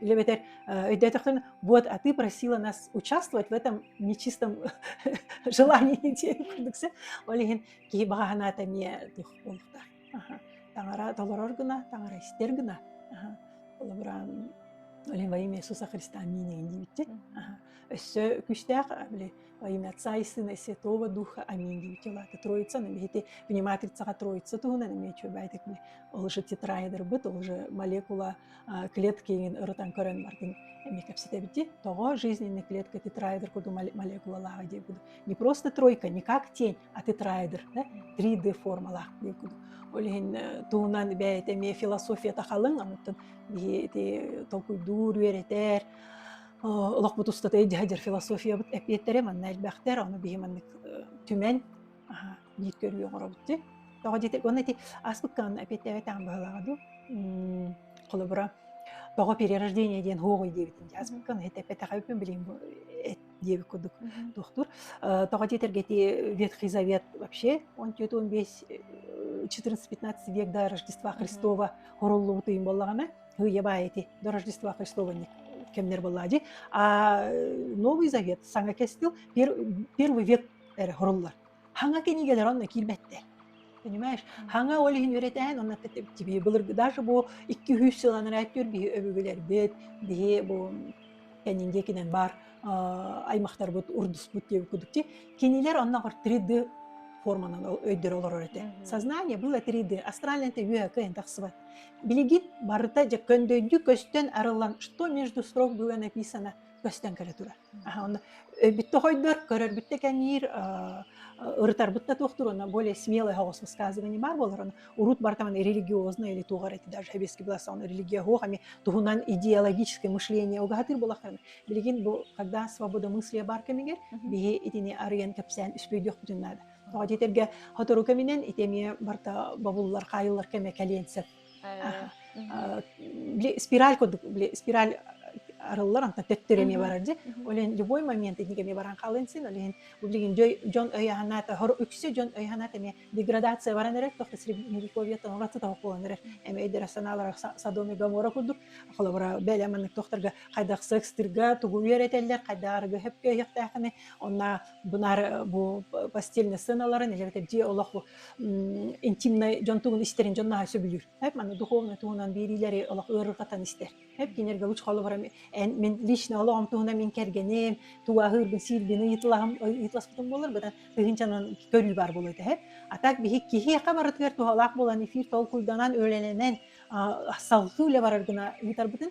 Или эбэтэр өйдөөтөхтөрүнэ, вот, а ты просила нас участвовать в этом нечистом желании диэн курдук сэ. Ол иһин киһи баҕа санаата эмиэ туох буолуохтаах. Аха. Таҥара толорор гына, таҥара истэр гына. Аха. Холобураан Оле во имя Иисуса Христа аминь диибитчи. Өссө күштээх били во имя Отца и Сына и Святого Духа аминь диибитчи улаата Троица на бихити пониматрицаға Троица туһунан эмиэ чуобайтик били ол же тетрайдербыт ол же молекула клетки иҥин ырытан көрөн бардын эми кэпситэбити тоҕо жизненный клетка тетраэдр курдук молекулалааҕа диэн курдук не просто тройка не как тень а тетраэдр да 3D формалаах диэн курдук ол иһин туһунан бэйэтэ эмиэ философията халыҥ омуттан биһи ити толкуйдуур үөрэтэр олохпут устата эдьиһэдьэр философиябыт эпиэттерэ манна элбэхтэр ону биһи маннык түмэн аха диэт көрүү оҥоробут дии тоҕо диэтик уонна ити аспыккаан эпиэттээбэтэҕим быһалааҕа дуу холобура тоҕо перерождение диэн хуоҕуй диэбитин дии аспыккаан этэппэтэҕэ үкүн билим диэбит курдук туохтуур тоҕо диэтэргэ ити ветхий завет вообще он түөрт он бес четырнадцать пятнадцать век до рождества христова хоруллубут уйун боллаҕына хыйа баай ити до рождества христова кэмнэр боллаа дии а новый завет саҥа кестил первый век эрэ хоруллар. Хаҥа кинигэлэр онно киирбэттэр. Понимаешь, хаҥа ол иһин үөрэтээн, онно тебе былыргы даже бу икки үс сылан эрээттүүр биһи өбүгэлэрбит биһи бу кэннин диэкинэн баар аймахтарбыт урдуспут диэбит кудук ти кинилэр онногор 3D форманан өйдөрө олорор этэ. Сознание было 3D, астральнайта үөһэ кыайан тахсыбат. Билигит барыта дьэ көндөйдүү көстөн арыллан, что между строк было написано, көстөн кэлэ турар. Бүттэ хойдор, көрөрбүттэ кэҥиир, ырытарбыт да туох туруона более смелое оҕус высказывание баар буолар урут бартаман религиозное или туоҕар эти даже хабеский былассаан религия хуох эми туһунан идеологическое мышление угатыр булахтарын билигин бу когда свобода мысли бар кэмигэр биһи итини арыйан кэпсээн үспүйдүөхпүтүн наада тоҕо диэтэргэ хотору кэминэн итэмиэ барта бабуллар хаайыллар кэмэ кэлиэн сөп спираль курдук спираль арыллар онтон төттөрү эмиэ барар дьэ олен любой момент итинник эмиэ баран хаалын син олен билигин дьон өйөһанаат хор үксэ дьон өйөһанаат эмиэ деградация баран эрэр тохта средневековье тонола тотоҕолон эрэр эмэ эдэр санаалар садоми гамора курдук холобура бэлэ маннык тохторго хайдах секстырга тугу үөрэтэллэр хайдарыга хөпкө өйөхтээххине онна бунар бу постельный сыналарын элбэте дьиэ олох интимнай дьон тугун истэрин дьон наһаа сөбүлүүр. Эп маны духовный туһунан биэриилэри олох ыарырҕатан истэр. Эп кинерге лучше холобарам эн мен лично олоҕум туһунан мин кэргэним, тугаһыырбын сиирбин ыйытылаһым ыйытыласпытым болор быдан тыһынчанан көрүү бар болуо этэ. А так биһи киһиэхэ барытыгар туһалаах болан эфир толкуйданан, өлөнөнөн салгыы үлэ барар гына ыытарбытын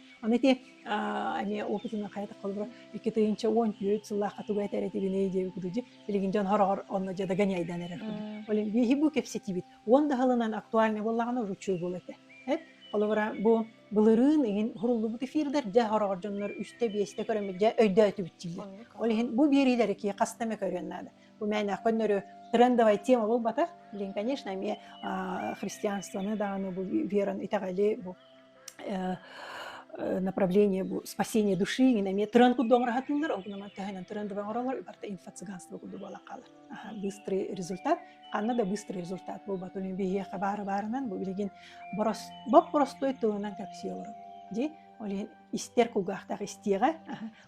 Аны ити эмиэ опытынан хайата холборо икки тыйынча уон түөрт сыллаахха тугу этэр этибиний диэбит кудучи билигин дьон хороҕор онно дьада гanyайдан эрэр Оле биһи бу кэпсэтиибит уон да сылынан актуальный боллаҕына уручуй бол этэ эт холобура бу былырыын иһин хуруллубут эфирдер дьэ хороҕор дьоннор үстэ биэстэ көрөммүт дьэ өйдөөтүбүттииллэр ол иһин бу биэриилэри ки хаста эмэ көрүөн наада бу мээнээх көннөрү трендовая тема болбатах билин конечно эмиэ христианствоны дааны бу веран итэҕэли бу направление бу спасение души ngин эмиэ тыран курдук оҥораһатыыллар онкунаман төһөнөн тыран дыбан оролор барта инфо-цыганство курдук буола хаалар быстрый результат ханна да быстрый результат буолбат uni биһиэхэ баары баарынан бу билигин борос боп боростой тылынан кэпсии олору ди олин истер кулгаахтаах истиэҕэ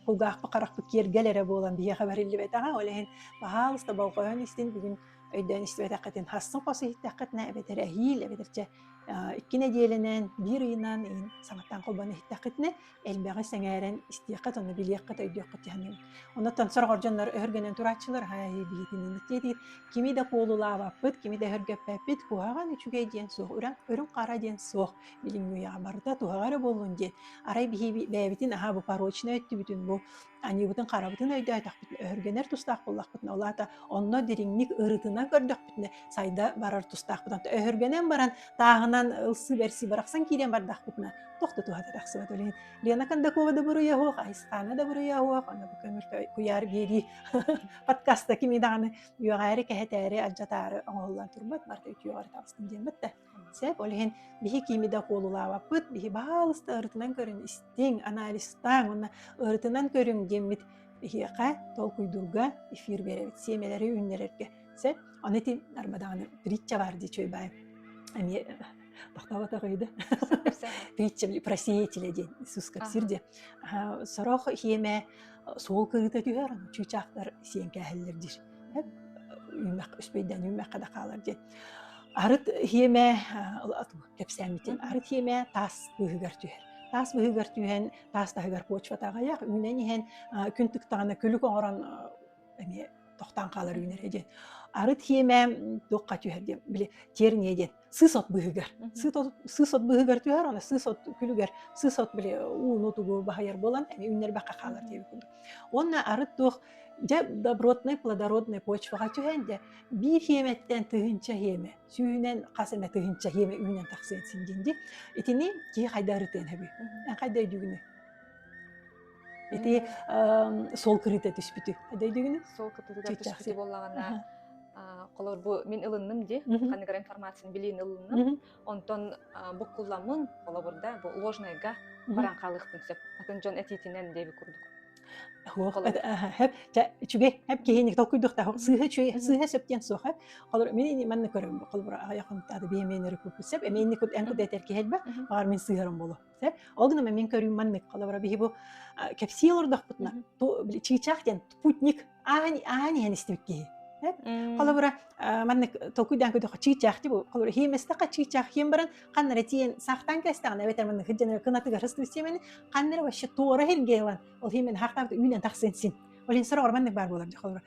кулгаахпы харахпыт киэргэл эрэ буолан биһиэхэ бэриллибэтэҕэ олиһин паһаалыста болҕойон истин бүгүн өйдөөн истибэтэххитин хассын хос иһиттэххитинэ эбэтэр эһиил эбэтэрчэ Икки нэдиэлэнэн биир ыйынан иһин саҥаттан холбоон иһиттэххитинэ элбэҕи сэҥээрэн истиэххит уонна билиэххит, өйдүөххүт тиһэниҥ. Оннуттан сорох ордоннор өһөргөнөн турааччылар «Ай, билигин тиэтиир кими да куолулаабаппыт, кими да өһөргөппөппүт, куһаҕан үчүгэй диэн суох, үрүҥ үрүҥ хара диэн суох, билиҥҥи үйэҕэ барыта туһаҕа эрэ буоллун» диэн арай биһиэбитин аһаа бу порочно өттүбүтүн бу Аньыыбытын харабытын өйдөөтөхпүтүнэ, өһүргэнэр тустаах буоллахпытына, ол аата онно дириҥник ырытына көрдөхпүтүнэ сайда барар тустаахпыт. Онто өһүргэнэн баран тааһынан ылсыы-бэрсии барахсан киирэн бардахпытына туох да туһата тахсыбат. Билигин Лена Кондакова да буруйа суох, Айсаана да буруйа суох, онно бу көмүлкө куйаар биэрии подкаста кими даҕаны үөҕээри, кэһэтээри, алдьатаары оҥоһуллан турбат, барыта үтүөҕэр таҕыстым диэн баттэ. Сөп, ол иһин биһи кими да куолулаабаппыт, биһи баалыста ырытынан көрүн истиҥ, анализтаҥ уонна ырытынан көрүҥ диэммит биһиэхэ толкуйдуурга эфир биэрэбит сиэмэлэри үүннэрэргэ. Сөп, аны ити арбадаҕаны притча баар дии чуйбаайым. Эмиэ тохтоботоҕой да притча про сеятеля диэн Иисус кэпсиир диэн. Сорох иэмэ суол кырыыта түһэр, чыычаахтар сиэҥкээһэллэр диир. үүмэх үспейден үүмэххэ да хаалар диэн арыт хиэмэ кэпсээммитим арыт хиэмэ таас быыһыгар түһэр таас быыһыгар түһэн таас таһыгар почвата аҕыйах үүнэн иһэн күн тыктаҕына күлүк оҥорон эмиэ тохтоон хаалар үүнэрэ диэн арыт хиэмэ туохха түһэр диэн били терния диэн сыс от быыһыгар сыс от сыс от быыһыгар түһэр аны сыс от күлүгэр сыс от били ууну тугу баһыйар буолан эми үннэрбэххэ хаалар диэбит курдук уонна арыт туох дьэ добротнай плодороднай почваҕа түһэн дэ биир хиэмэттэн тыһыынча хиэмэ сүүһүнэн хас эмэ тыһыынча хиэмэ үүнэн тахсыан син диэн ди итини киһи хайда ырытыан хэбүй эн хайда өйдүүгүнүй Ити сол кырыыта түспүтү дөйдүгүнү? Сол кырыыта түспүтү буоллаҕына холор бу мин ылынным ди ханыгар информацияны билиин ылынным онтон буккулламмын холобурда бу ложнайга баран хаалыахпын сөп атын дьон этиитинэн диэби курдук үчүгэй әп киһини толкуйдуохтаах сыыһа үчүгэй сыыһа сөп диэн суох әп холор мин манна көрөм холбура айахым тады биэменнери куппут сөп эминни кут эн кут этер киһэлбэ бар мин сыыһарым болу ол гынан мин көрүүм маннык холобура биһи бу кэпсии олордохпутуна чыычаах диэн спутник аан аан иһэн истибит киһи холобура маннык толкуйдаан көрдөхө чыычаах ти бу холобура хиим эстэхэ чыычаах хиим баран ханнары тиэн сахтан кэстэҕин эбэтэр маннык сыдьанар кынатыгар хыстыбыт сиэмэни ханнары вообще туора хилге ылан ол хиимэн хаахтаабыт үүнэн тахсын син олин сорох маннык баар буолар холобура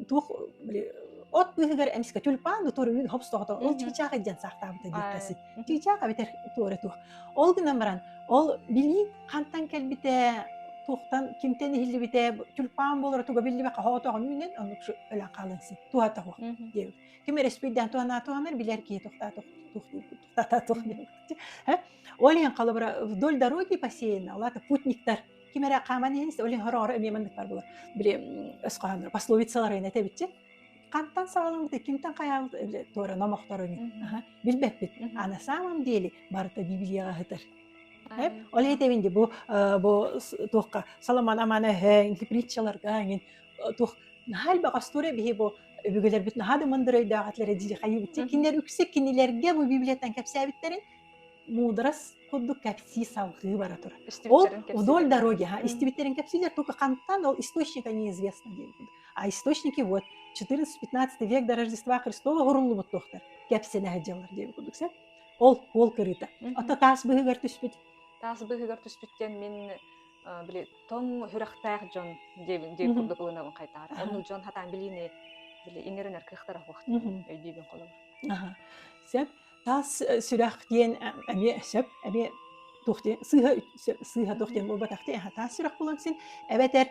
туох от быыһыгар эмискэ тюльпан туоруйуун хопстоото ол чыычаах идиэн саахтаабыта диэккэсин чыычаах эбэтэр туора туох ол гынан баран ол билии хантан кэлбитэ туохтан кимтэн иһиллибитэ тюльпан буолара туга биллибэ хаһоотоҕун үүнэн оннук өлөн хаалан син туһата туох диэбит ким эрэспийдээн туһанаа туһанар билэр киһи тохтаа туох диэбит тохтата туох диэбит ол эн халыбра вдоль дороги бассейна алата путниктар ким эрэ хааман иһэн истэ оле хороҕоро эмиэ маннык баар буолар били өскөһөннөр пословицалар инэ этэбитчи хантан саҕалабыт кимтэн хайаабыт туора номохтор ини билбэппит а на самом деле барыта библияға хытыр ол этэбин де бу бу туохха соломон аманы өһөң притчаларга ангин туох наһаа элбэх остуоруя биһи бу өбүгэлэрбит наһаа да мындырыйдаах атлары дили хайыбытти кинилер үксэ кинилерге бу библияттан кэпсээбиттерин муударас курдук кэпсии салҕыы бара турар. Ол вдоль дороги, ага, истибиттэрин кэпсиилэр только хантан ол источника неизвестно диэн курдук. А источники вот 14-15 век до Рождества Христова уруллубут туохтар кэпсэнэ сылдьаллар диэн курдук сэ. Ол ол кырыыта. Ото таас быһыгар түспүт. Таас быһыгар түспүт диэн мин били тоҥ хүрэхтээх дьон диэбин диэн курдук ылынабын хайтаар. Онну дьон хатаан билиини били иҥэринэр кыахтара хуохту өйдүүбүн холобур. Ага. Сеп таас сүрэх диэн эмиэ сөп эмиэ туох диэн сыыһа сыыһа туох диэн буолбатах тиэ таас сүрэх буолан син эбэтэр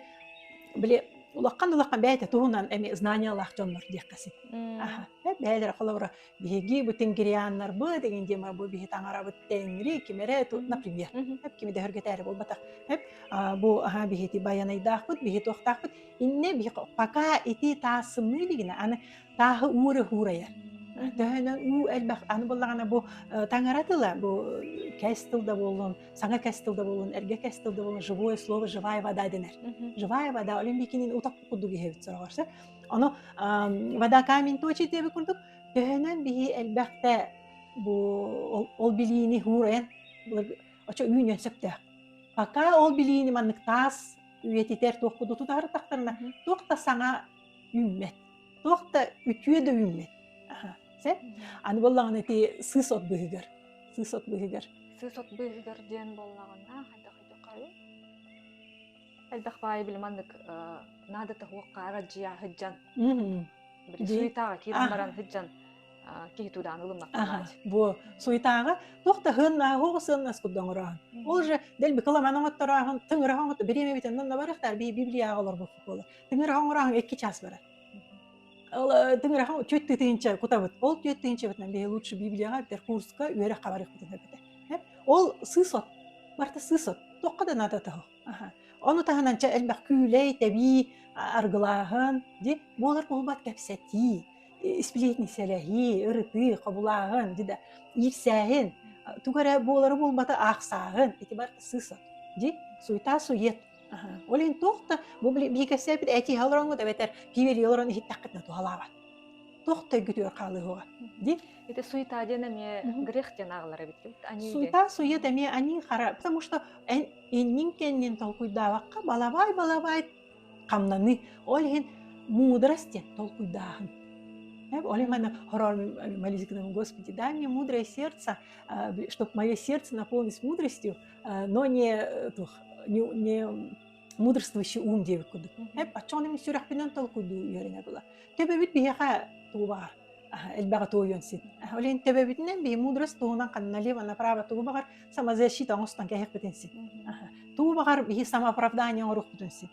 били улахан улахан бэйэтэ туһунан эми знаниялаах дьоннор диэххэ син аха бэйэлэрэ холобура биһиги бу тингрианнарбы деген дима бу биһи таҥарабыт теңри кимере например эп кими дөһөргөтөөрү буолбатах эп бу аха биһити байанайдаахпыт биһи туохтаахпыт инне биһи пока ити таасымны дигине аны тааһы уура уурайар. Төһөнөн уу элбэх аны буллаҕына бу таҥара тыла бу кэс тыл да буолун саҥа кэс тыл да буолун эргэ кэс тыл да буолун живое слово живая вода денэр живая вода олин бикинин утак курдук иһэбит сороҕорсор ону вода камень точи диэби курдук төһөнөн биһи элбэхтэ бу ол билиини уурайан очо үүнөн сөптөөх пока ол билиини маннык таас үйэтитэр туох куду тутары тахтарына туох да саҥа үүммэт. Туох да үтүө да үүммэт. Аха. Сэ? Аны буоллаҕына ити сыыс от быыһыгар. Сыыс от быыһыгар. Сыыс от быыһыгар диэн буоллаҕына хайдах хайдахха элбэх баайы били маннык наада таһуоххаара дьиа сыдьан суйтааҕа киирэн баран сыдьан киһи туудаан ылымнахтанааччы бу суйтааҕа туох да һын хоҕу сыннас курда оҥороон ол же дэл бикыламан оҥотторооһун тыҥыраһа оҥото бириэмэ битиннэн набарыхтар би библияҕа олорбут буолар Тыҥырахан ураҕаҥ икки час барар. Тыҥырахан түөт тыытыынча кутабыт. Ол түөт тыынчабытынан биһи лучше Библияҕа битэр курска үөрэххэ барыахпытын көрбүтэ. Ол сысот. Барта сысот. Токка да надо того. Ону таһынан ча элбэх күүлэй, тэбии аргылааһын, ди буолар буолбат кэпсэтии, сплетни сэлэһии, ырытыы, хобулааһын, дида иирсээһин, тугу эрэ буолары буолбата аахсааһын, ити бар сысот, ди суйта сует Аһа. Ол иһин туох да бу биһиги кэпсээбит этиһэ олороҥҥут эбэтэр киирии олорон иһиттэххитинэ туһалаабат. Туох да өйгүтүгэр хаалыһыаҕа, дии. Это суета диэн эмиэ Мгм. грех диэн аҕалар эбит ким аньыыга. Суета сует эмиэ аньыы хара, потому что эн иннин кэннин толкуйдаабакка балабай балабай хамнаныы. Ол иһин мудрость диэн толкуйдааһын. Э, ол иһин манна хороор молись к нам, Господи, дай мне мудрое сердце, чтобы мое сердце наполнилось мудростью. но не не мудрствующий ум диэбит курдук еп оччоҕуна сүрэхпинэн толкуйдуу үөрэнэ була төбөбүт биһиэхэ туубаҕар элбэҕи туойуон син олен төбөбүтүнэн биһи мудрость туһунан ханна лево направо туубаҕар самозащита оҥостон кэһэхпитин син туубаҕар биһи самооправдание оҥорухпутун син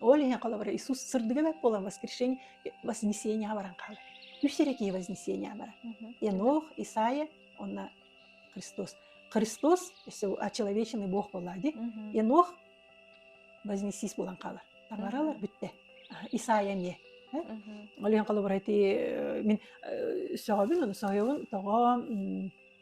Ол иһин холобура Иисус сырдыга бэт буолан воскрешение вознесение баран хаалар. Үс эрекие вознесения баран. Енох, Исаия, онна Христос. Христос, если очеловеченный Бог была, ди, Енох вознесись болан қалар. Тамаралар бүтте. Исаия не. Ол иһин холобура ти мен сөҕөбүн, оны сөйөбүн тоҕо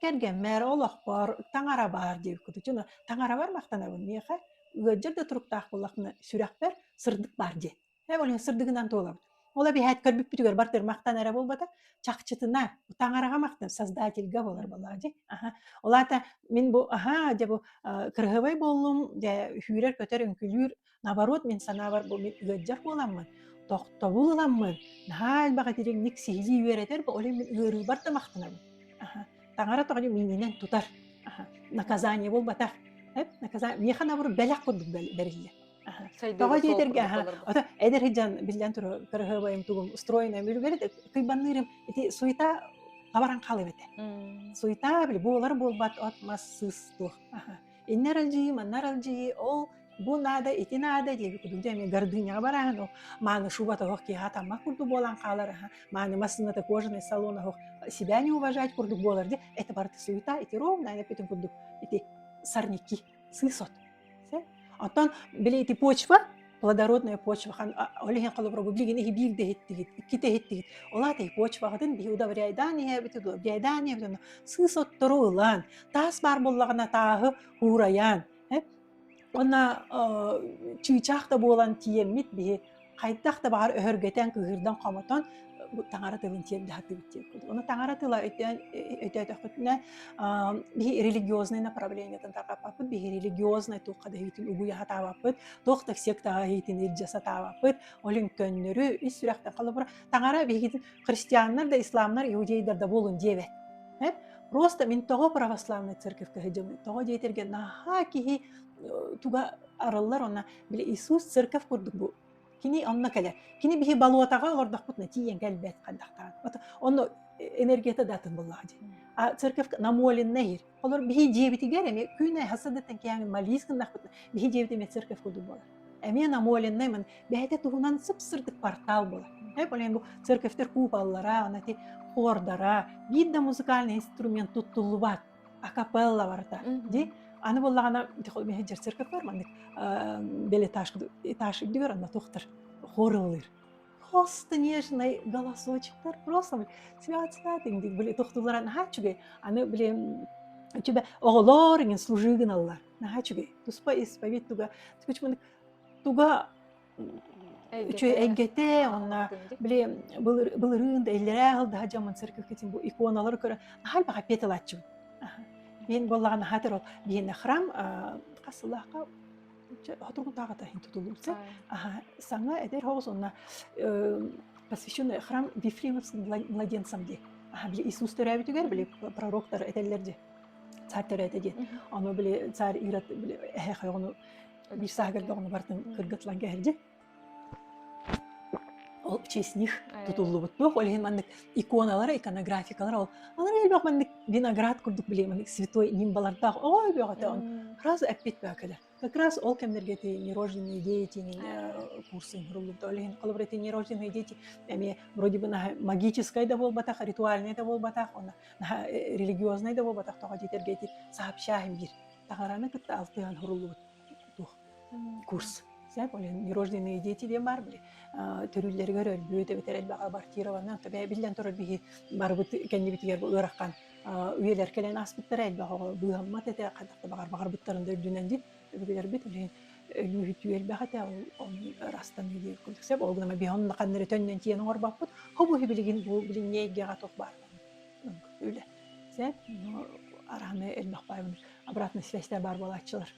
Кэргэммэр олохпор таҥара баар диэбиккит дьоно таҥарабар махтанабын миэхэ ыалдьар да туруктаах буоллахпына сүрэхпэр сырдык баар дии э ол иһин сырдыгынан туолабын ол эбиэт көрбүппүтүгэр бартыр махтана эрэ буолбата чахчытына таҥараҕа махтан создательга буолар буоллаҕа дии аха ол аата мин бу аһаа дьэ бу кыраһыабай буоллум дьэ сүүрэр көтөр үҥкүүлүүр Наоборот, мин санаабар, бу мин ыалдьар буоламмын, тохтобул ыламмын, наһаа элбэх итирикник сиһилии үөрэтэр, бу олень мин ыарыыбар да махтанабын. Аха, таҥара тоҕо миининэн тутар, аха, наказание буолбатах. Эп, наказа миэхэ наоборот бэлэх курдук бэриллэр. Аха, тоҕо диэтэргэ аха, ото эдэр сылдьан биллэн турар кыраһыабайым тугум устроенная мүлүгэрит кыйбанныырым ити суета хабаран хаалып этэ. Суета били буолар буолбат от мас сыс туох. Аха. иннэ аралдьыйыы манна аралдьыйыы ол бу наада ити наада диэби кудук дьэ эми гордыняҕа барааһын ол мааны шуба тоһох киэһэ таммах курдук буолан хаалар аһа мааны массыыната кожаный салон оһох себя не уважать курдук буолар дьэ это барыта суета ити ровно аны бүтүн курдук ити сорняки сысот оттон били ити почва плодородная почва хан ол иһин холобурга билигин иһи биир да иһиттигит икки да иһиттигит ол аата почваҕытын биһи удобряйдаан иһээбит удобряйдаан иһэбитин сыыс оттору ылан таас баар буоллаҕына тааһы уурайаан уонна чыычаах да буолан тиийэммит биһи хайдах да баҕар өһөргөтөн кыыһырдан хомотон таҥара тылын тиэрдэ хатыыбыт тиэр курдук оны таҥара тыла өтөөтөхүтүнэ биһи религиознай направлениетын тарҕаппаппыт биһи религиознай туохха да үгүй хатаабаппыт туох да сектаҕа иитин илдьэ сатаабаппыт, ол иһин көннөрү ис сүрэхтэн холобура таҥара биһиги христианнар да исламнар иудейдар да буолун диэбэт просто мин тоҕо православнай церковька сылдьабын тоҕо диэтэргэ наһаа киһи туга арыллар онно били иисус церковь курдук бу кини онно кэлэр кини биһи болотаҕа олордохпутуна тиийэн кэлбэт хайдахтаан онно энергията да атын буллаҕа дии а церковь намоленная иһир Олор биһи дьиэбитигэр эми күн хасыдыттан киэҥ малис гыннахпыт биһи дьиэбит эмиэ церковь курдук буолар. Эмиэ намоленнай мын бэйэтэ туһунан сып-сырдык портал буолар. Эп олен бу церковьтер куполлара, анати хордара, биир да музыкальный инструмент туттуллубат, акапелла барыта. Ди аны боллагана мехи жер церковьлар маннык э, белеташ этаж үрдүгэр анна тохтар хорыллыр. Холстонежный голосочектар просто цвят-цвят иҥ диик били тохтуулара наһаа үчүгэй. Аны били үчүгэй оҕолор иҥин служыы гыналлар. Наһаа үчүгэй. Туспа исповедь туга туга үчүгэй эйгэтэ онно били былырыын да иллэрээ хыл даһа дьоммун церковкитин бу иконалары көрө наһаа элбэҕи петалааччыбын. Мен буоллаҕа наһаа тэр ол биэнэ храм хасылаха Дьэ, хотугутааҕы таһын тутуллубутсай. Аха, саҥа эдэр хоҕус уонна посвященный храм Вифлеемовским младенцам дии. Аха, били Иисус төрөөбүтүгэр били пророктар этэллэр дии. Царь төрөөтө диэн. Ону били царь Ирод эһэ ойоҕуну биир сааһыгар доҕону барытын кыргытлан кэһэр дии. Ол честь них тутуллубут туох ол иһин маннык иконалара иконографикалара ол алар элбэх маннык виноград курдук биле маннык святой нимбалардаах оҕо өбүөҕөтө он раз эппит бөкөлөр как раз ол кэмнэргэ эти нерожденные дети курсы руллубута ол иһин холобур эти нерожденные дети эмиэ вроде бы наһаа магическай да буолбатах ритуальнай да буолбатах она наһаа религиознай да буолбатах тоҕо диэтэргэ эти сообщаем биир таһараны кытта алтыһан хуруллубут курс нерожденные дети диэн баар били төрүүллэригэр өлбүт эбэтэр элбэх абортированнан биллэн турар биһи барыбыт кэннибитигэр бу ыарахан үйэлэр кэлэн ааспыттара элбэх оҕо быыһаммат этэ хантах да баҕар баҕарбыттарын да үрдүнэн дин өбүгэлэрбит билин өлүүһүтүү элбэх этэ ол ырастаныы диэн курдук сеп ол гына биһи онно ханнары төннөн тиийэн оҥорбаппыт хобу билигин бу билиҥҥи эйгэҕэ туох баар үлэ сээп арааны элмэх баайбын обратная связь баар буолааччылар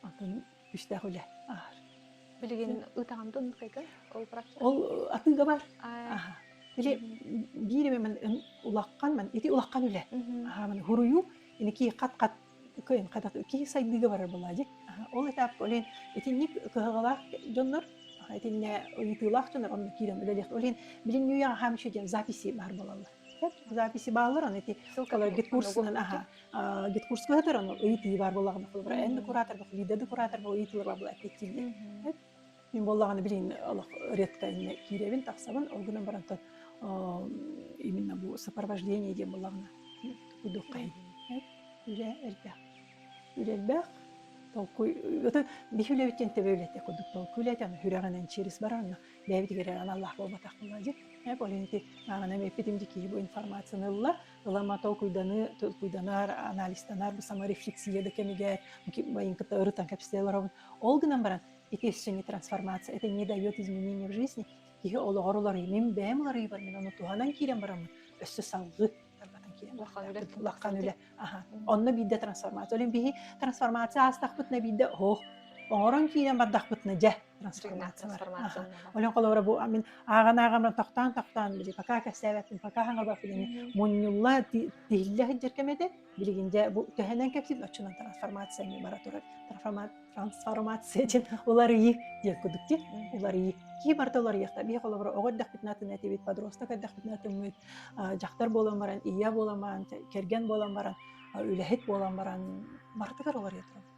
атын күүстээх үлэ аар билигин ытаҕантан кайган ол ол атыыга бар или биир мен улахан мен ити улахан үлэ аһаман хуруйу ини ки хат хат кыйын хатах киһи сайдыыга барар буолаа дии. Ол этапка олен итинник кыһалҕалаах дьоннор итинне ыйытыылаах дьоннор онно киирэн үлэлэх олен билин ньуйаҕа хамчы диэн записи бар болаллар записи бааллар аны ити гидкурсунан аха гидкурска ытыр аны ыйытыы бар болаҕына эн декуратор бу лида декуратор бу ыйытыылар бабла эппиттииллер Мин буоллаҕына билин олох редко иннэ киирэбин, тахсабын, ол гынан баран тот именно бу сопровождение диэн буоллаҕына кудуххайын. Үлэ элбэх. Үлэ элбэх. Толкуй ытын бих үлэбиттен төбө үлэте кудук толкуй үлэте аны хүрәҕинен через баранна бэбитигер аналлаах буолбатах буолла дик. Ол ити мағана меппитим ди киһи бу информацияны ылла ылам ата толкуйданыы толкуйданар анализтанар саморефлексия да кэмигэр моим кытта ырытан кэпсэтэ олоробун ол гынан баран ити синий трансформация это не дает изменения в жизни киһи олоҕор уларыймын бэйэм уларыйбар мин ону туһанан киирэн бараммын өссө салгыы тарбатан киирэн улахан үлэ онно биирдэ трансформация олин биһи трансформация аастахпытына биирдэ оһох оҥорон киирэн бардахпытына дьэ трансформациялар олен холобура бу мин ааҕан ааҕаммын тохтоон тохтоон били пока кэсээбэппин пока хаҥабаппын ини мунньулла тиһиллэ сылдьар кэм этэ билигин дьэ бу төһөнөн кэпсиир оччунан трансформация эмиэ бара турар трансформация диэн уларыйыы диэн кудук диэн уларыйыы кии барыта уларыйыахта биһи холобура оҕо эрдэхпитинэ атын этибит подросток эрдэхпитинэ атыммыт дьахтар буолан баран ийэ буолан баран кэргэн буолан баран үлэһит буолан баран бартыгар уларыйа турабыт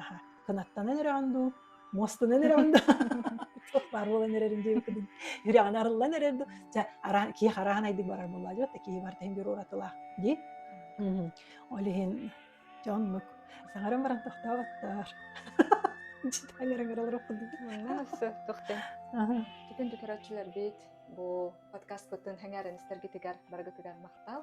аха кынаттанан эрэҕин дуу муостанан эрэҕин дуу туох баар буолан эрэрим диэбиккин үрэҕин арыллан эрэр дуу чэ араан киһи хараан айдык барар буолла дьэ да киһи барта иһин бир уратылаах дии ол иһин дьэ оннук саҥаран баран тохтооботтоор сөхтөхтөн бүтүн түкэрээччилэрбит бу подкаскытын сэҥээрэн истэргитигэр барыгытыгар махтал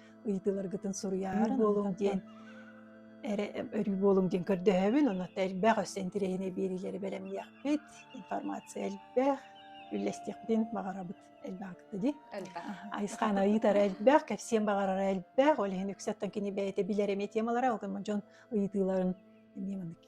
ыйытыыларгытын суруйар буолуҥ диэн эрэ өрүү буолуҥ диэн көрдөһөбүн онно элбэх өссө интириэһинэй биэриилэри бэлэмниэхпит информация элбэх үллэстиэхпитин баҕарабыт элбэх дии элбэх айысхаана ыйытара элбэх кэпсиэн баҕарара элбэх ол иһин үксэ оттон кини бэйэтэ билэр эмиэ темалара ол дьон ыйытыыларын эмиэ маннык